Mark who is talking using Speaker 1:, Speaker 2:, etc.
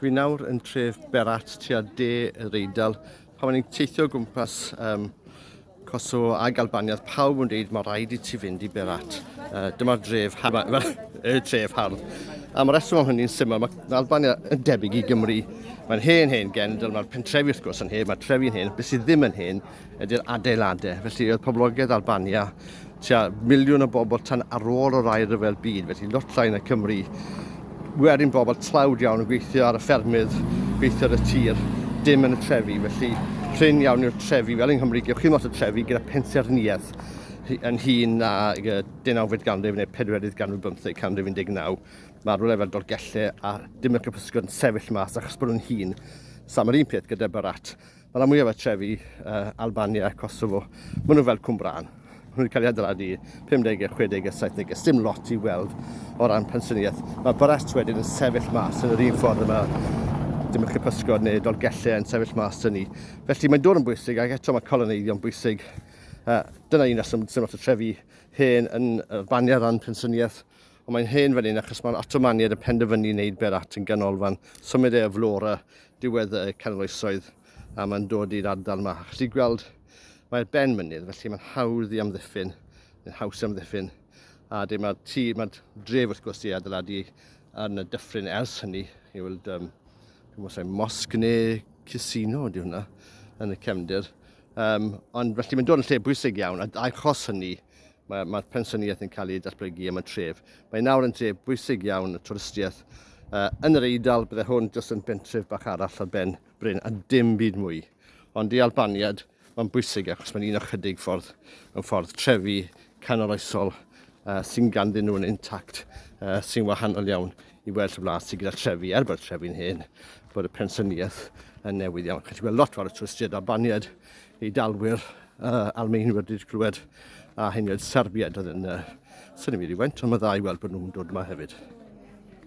Speaker 1: Dwi nawr yn tref Berat tua de yr Eidal. Pan o'n i'n teithio o gwmpas um, Kosovo a Galbania, oedd pawb yn dweud mae rhaid i ti fynd i Berat. Uh, Dyma'r dref hardd, y tref hardd. Am y reswm am hynny'n syml, mae Albania yn debyg i Gymru. Mae'n hen hen gendl, mae'r pentrefi wrth gwrs yn hen, mae'r trefi'n hen, beth sydd ddim yn hen ydy'r adeiladau. Felly oedd poblogaeth Albania tua miliwn o bobl tan ar ôl o'r air rhyfel byd, felly lot llai na Cymru. Werin bobl tlawd iawn yn gweithio ar y ffermydd, gweithio ar y tir, dim yn y trefi, felly prin iawn yw'r trefi, fel yng Nghymru, gewch chi lot o trefi gyda pensaernïaeth yn hun na deunawfed ganrif neu pedwerydd ganrif bymtheg, canrif 19. Mae rhywle fel Dolgellau a dim y Capysgod yn sefyll mas achos bod nhw'n hun. Sam yr un peth gyda Barat. Mae rhan mwyaf o'r trefi, uh, Albania, Kosovo, maen nhw fel Cwmbrân. Maen nhw wedi cael ei adeiladu 50au, 60au, 70au. Sdim lot i weld o ran pensyniaeth. Mae Barett wedyn yn sefyll mas yn yr un ffordd yma. Dim yn chypysgod neu dolgellau yn sefyll mas yn ni. Felly mae'n dod yn bwysig ac eto mae coloneiddio'n bwysig. Uh, dyna un reswm sdim lot o trefi hen yn Albania ran pensyniaeth ond mae'n hen fan hyn achos mae'r Ottomaniad yn penderfynu wneud Berat yn ganolfan symud e o Flora diwedd y canol oesoedd a mae'n dod i'r ardal yma. Chi'n gallu gweld mae'r ben mynydd, felly mae'n hawdd i amddiffyn, mae'n haws i amddiffyn. A dim mae'r tŷ, mae'r dref wrth gwrs i adeiladu yn y dyffryn ers hynny. Chi'n gweld, um, dwi'n mwysau, mosg neu casino ydy hwnna yn y cefndir. Um, ond felly mae'n dod yn lle bwysig iawn, a achos hynny, Mae'r mae pensaernïaeth yn cael ei datblygu am y tref. Mae nawr yn dref bwysig iawn y twristiaeth uh, yn yr Eidal. Bydde hwn jyst yn bentref bach arall ar ben Bryn a dim byd mwy. Ond i Albaniad, mae'n bwysig achos mae'n un o chydig ffordd yn ffordd trefi canoloesol uh, sy'n ganddyn nhw'n intact uh, sy'n wahanol iawn i well y wlad sydd gyda trefi, er bod trefi'n hen, bod y pensyniaeth yn newydd iawn. Chi'n gweld lot fawr o twristiaid Albaniad Eidalwyr Almaenwyr wedi clywed a hyn oedd Serbiaid oedd yn uh, syni mi rhywfaint, ond mae dda i weld bod nhw'n dod yma hefyd.